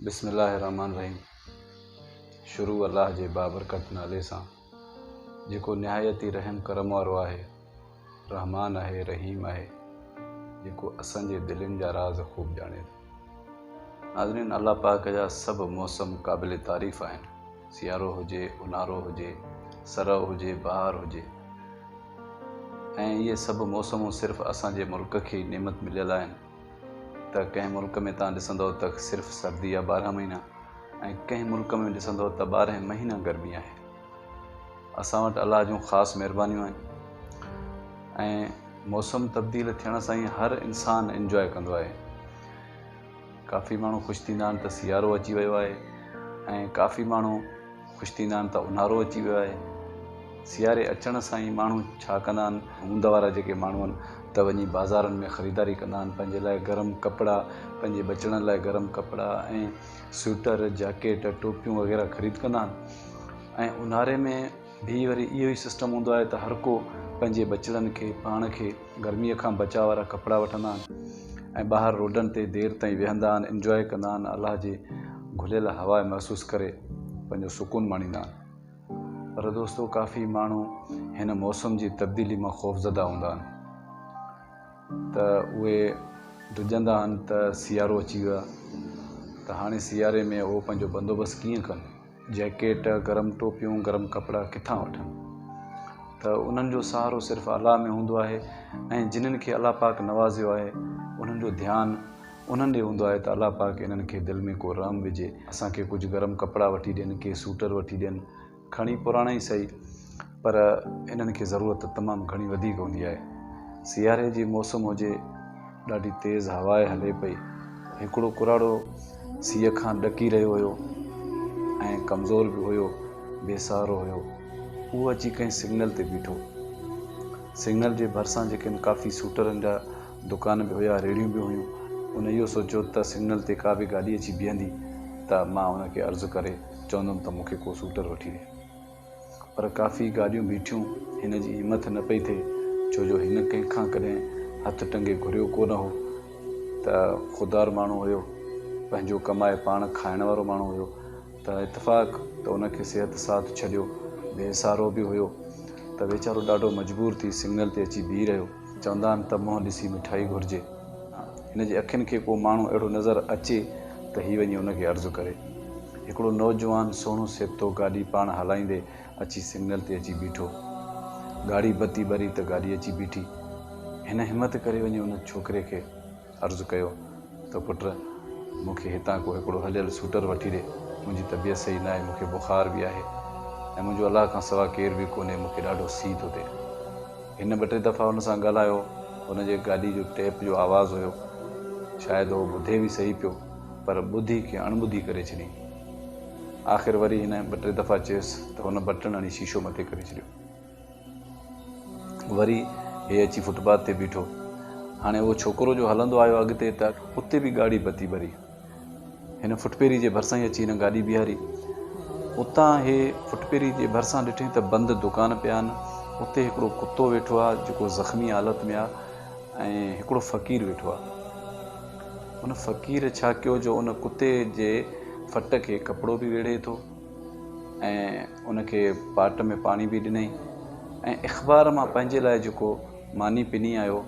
بسم الله الرحمٰن الرحيم شروع الله جي بابرڪت نالي سان جيڪو نهايت ئي رحم ڪرم وارو آهي رحمان آهي رحيم آهي جيڪو اسان جي دلين جا راز خوب ڄاڻي ٿو ناظرين الله پاڪ جا سڀ موسم قابل تعريف آهن سيارو هجي اونهارو هجي سرو هجي بهار هجي ۽ اهي سڀ موسمون صرف اسان جي ملڪ کي نعمت مليل آهن ته ڪنهن ملڪ ۾ توهان ڏسندؤ ته صرف سردي آ ٻارهن مهينا ۽ ڪنهن ملڪ ۾ ڏسندؤ ته ٻارهن مهينا گرمي آهي اسان وٽ الله جون خاص مهربانيون آهن ۽ موسم تبديل ٿيڻ سان ئي هر انسان انجوائي ڪندو آهي ڪافي ماڻهو خوش ٿيندا آهن ته سيارو اچي ويو آهي ۽ ڪافي ماڻهو خوش ٿيندا آهن ته اونهارو اچي ويو آهي. سياري اچڻ سان ئي ماڻهو ڇا ڪندا آهن؟ هوند وارا جيڪي ماڻهو آهن ته وڃي بازارن ۾ خريداري ڪندا آهن. پنهنجي لاء گرم ڪپڙا، پنهنجي ٻچڙن لاء گرم ڪپڙا ۽ سوئٽر، جاڪيٽ، ٽوپيون وغيره خريد ڪندا آهن ۽ اونهاري ۾ به وري اهو ئي سسٽم هوندو آهي ته هر ڪو پنهنجي ٻچڙن کي، پاڻ کي، گرميء کان بچاء وارا ڪپڙا وٺندا آهن ۽ ٻاهر روڊن تي دير تائين ويهندا آهن، Enjoy، ڪندا آهن، الله جي گهليل هوا محسوس ڪري پنهنجو سڪون ماڻيندا آهن. پر دوستو ڪافي ماڻهو هن موسم جي تبديلي مان خوفزده هوندا آهن ته اهي ڊڄندا آهن ته سيارو اچي ويو آهي ته هاڻي سياري ۾ اهو پنهنجو بندوبست ڪيئن ڪن؟ جيڪيٽ، گرم ٽوپيون، گرم ڪپڙا ڪٿان وٺن؟ ته انهن جو سهارو صرف الله ۾ هوندو آهي ۽ جنن کي الله پاڪ نوازيو آهي انهن جو ڌيان انهن ڏي هوندو آهي ته الله پاڪ انهن کي دل ۾ ڪو رحم وجهي اسان کي ڪجهه گرم ڪپڙا وٺي ڏين ڪي سوٽر وٺي ڏين کڻي پراڻا ئي سهي پر انهن کي ضرورت تمام گهڻي وڌيڪ هوندي آهي. سياري جي موسم هجي، ڏاڍي تيز هواء هلي پئي، هڪڙو ڪراڙو سيء کان ڏڪي رهيو هيو ۽ ڪمزور به هيو، بي سهارو هيو، اهو اچي ڪنهن سگنل تي بيٺو. سگنل جي ڀرسان جيڪن ڪافي سوٽرن جا دڪان به هيا، ريڙهيون به هيون، ان اهو سوچيو ته سگنل تي ڪا به گاڏي اچي بيهندي ته مان ان کي عرض ڪري چوندم ته مون کي ڪو سوٽر وٺي ڏي. پر ڪافي گاڏيون بيٺيون، هن جي همٿ نه پئي ٿئي، ڇو جو هن ڪنهن کان ڪڏهن هٿ ٽنگي گهريو ڪو نه هو ته خوددار ماڻهو هيو، پنهنجو ڪمائي پاڻ کائڻ وارو ماڻهو هيو ته اتفاق ته ان کي صحت ساٿ ڇڏيو بي سهارو به هيو ته ويچارو ڏاڍو مجبور ٿي سگنل تي اچي بيهي رهيو. چوندا آهن ته منهن ڏسي مٺائي گهرجي، هن جي اکين کي ڪو ماڻهو اهڙو نظر اچي ته هي وڃي ان کي عرض ڪري. هڪڙو نوجوان سهڻو سيبتو گاڏي پاڻ هلائيندي اچي سگنل تي اچي بيٺو. گاڙي بتي ٻري ته گاڏي اچي بيٺي. هن همت ڪري وڃي ان ڇوڪري کي عرض ڪيو ته پٽ مون کي هتان ڪو هڪڙو هليل سوٽر وٺي ڏي. منهنجي طبيعت صحيح ناهي، مون کي بخار به آهي ۽ منهنجو الله کان سوا ڪير به ڪونهي، مون کي ڏاڍو سي ٿو ٿئي. هن ٻه ٽي دفعا هن سان ڳالهايو. هن جي گاڏي جو ٽيپ جو آواز هيو. شايد هو ٻڌي به صحيح پيو. پر ٻڌي کي اڻٻڌي ڪري ڇڏيائين. آخر وري هن ٻه ٽي دفعا چيس ته هن بٽڻ هڻي شيشو مٿي ڪري ڇڏيو. وري هي اچي فٽ پاٿ تي بيٺو. هاڻي اهو ڇوڪرو جو هلندو آيو اڳتي ته اتي به ڳاڙهي بتي ٻري. هن فٽپيري جي ڀرسان ئي اچي هن گاڏي بيهاري. اتان هي فٽپيري جي ڀرسان ڏٺئين ته بند دڪان پيا آهن. اتي هڪڙو ڪتو ويٺو آهي جيڪو زخمي حالت ۾ آهي ۽ هڪڙو فقير ويٺو آهي. ان فقير ڇا ڪيو جو ان ڪتي جي ڦٽ کي ڪپڙو به ويڙهي ٿو ۽ ان کي پاٽ ۾ پاڻي به ڏنئي ۽ اخبار مان پنهنجي لاء جيڪو ماني پني آيو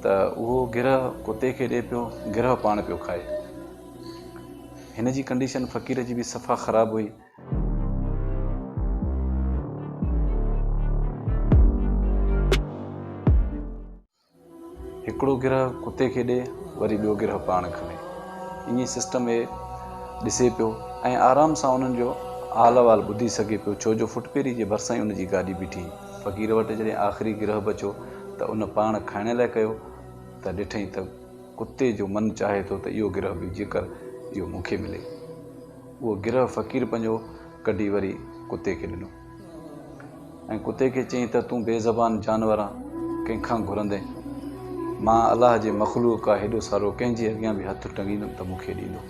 ته اهو گرهه ڪتي کي ڏي پيو گرهه پاڻ پيو کائي. هن جي ڪنڊيشن فقير جي به صفا خراب هئي. هڪڙو گرهه ڪتي کي ڏي وري ٻيو گرهه پاڻ کڻي ايئن سسٽم هي ڏسي پيو ۽ آرام سان انهن جو حال احوال ٻڌي سگهي پيو ڇو جو ڦٽپيري جي ڀرسان ئي ان جي گاڏي بيٺي فقير وٽ جڏهن آخري گرهه بچو ته ان پاڻ کائڻ لاء ڪيو ته ڏٺئين ته ڪتي جو من چاهي ٿو ته اهو گرهه به جيڪر اهو مون کي ملي اهو گرهه فقير پنهنجو ڪڍي وري ڪتي کي ڏنو. ۽ ڪتي کي چيائين ته تون بي زبان جانور آن ڪنهن کان گهرندين مان الله جي مخلوق ڪا هيڏو سارو ڪنهن جي اڳيان به هٿ ٽنگيندم ته مون کي ڏيندو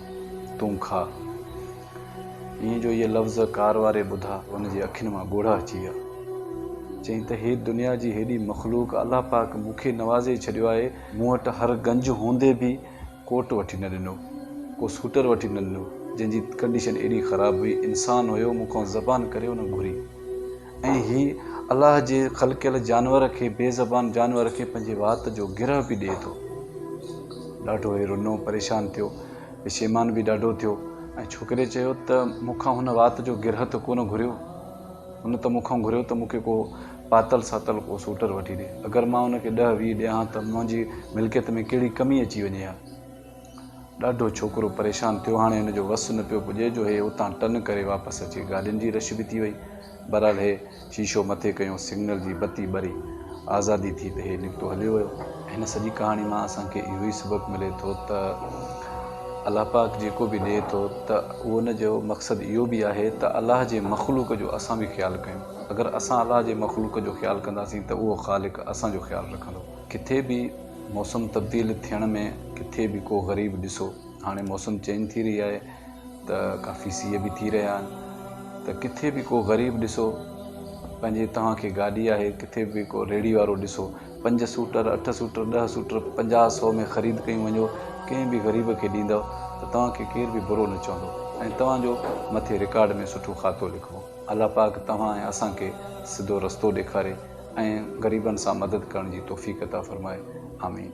تون کاء ائين جو اهي لفظ ڪار واري ٻڌا ان جي اکين مان ڳوڙها اچي ويا چيائين ته هي دنيا جي هيڏي مخلوق الله پاڪ مون کي نوازي ڇڏيو آهي مون وٽ هر گنج هوندي به ڪوٽ وٺي نه ڏنو، ڪو سوٽر وٺي نه ڏنو، جنهن جي ڪنڊيشن ايڏي خراب هئي، انسان هيو، مون کان زبان ڪري ان گهري ۽ هي الله جي خلقيل جانور کي، بي زبان جانور کي پنهنجي وات جو گرهه به ڏئي ٿو. ڏاڍو هي رنو، پريشان ٿيو، پشيمان به ڏاڍو ٿيو ۽ ڇوڪريء چيو ته مون کان هن وات جو گرهه ته ڪونه گهريو، هن ته مون کان گهريو ته مون کي ڪو پاتل ساتل ڪو سوٽر وٺي ڏي. اگر مان ان کي ڏهه ويهه ڏيان ها ته منهنجي ملڪيت ۾ ڪهڙي ڪمي اچي وڃي ها. ڏاڍو ڇوڪرو پريشان ٿيو. هاڻي هن جو وس نه پيو پڄي جو هي اتان ٽن ڪري واپس اچي. گاڏين جي رش به ٿي وئي. بهرحال هي شيشو مٿي ڪيو. سگنل جي بتي ٻري. آزادي ٿي ته هي نڪتو هليو ويو. هن سڄي ڪهاڻي مان اسان کي اهو ئي سبق ملي ٿو ته الله پاڪ جيڪو به ڏئي ٿو ته ان جو مقصد اهو به آهي ته الله جي مخلوق جو اسان به خيال ڪيون. اگر اسان الله جي مخلوق جو خيال ڪنداسين ته اهو خالق اسان جو خيال رکندو. ڪٿي به موسم تبديل ٿيڻ ۾ ڪٿي به ڪو غريب ڏسو هاڻي موسم چينج ٿي رهي آهي ته ڪافي سيء به ٿي رهيا آهن ته ڪٿي به ڪو غريب ڏسو پنهنجي توهان کي گاڏي آهي ڪٿي به ڪو ريڙهي وارو ڏسو پنج سوٽر اٺ سوٽر ڏهه سوٽر پنجاهه سو ۾ خريد ڪيون وڃو ڪنهن به غريب کي ڏيندو ته توهان کي ڪير به برو نه چوندو ۽ توهان جو مٿي رڪارڊ ۾ سٺو خاتو لکبو. الله پاڪ توهان ۽ اسان کي سڌو رستو ڏيکاري ۽ غريبن سان مدد ڪرڻ جي توفيق عطا فرمائي آمين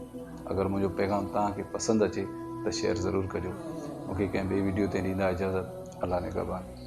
اگر منهنجو پيغام توهان کي پسند اچي ته شيئر ضرور ڪجو مون کي ڪنهن ٻي ويڊيو تي ڏيندا اجازت الله نگهبان.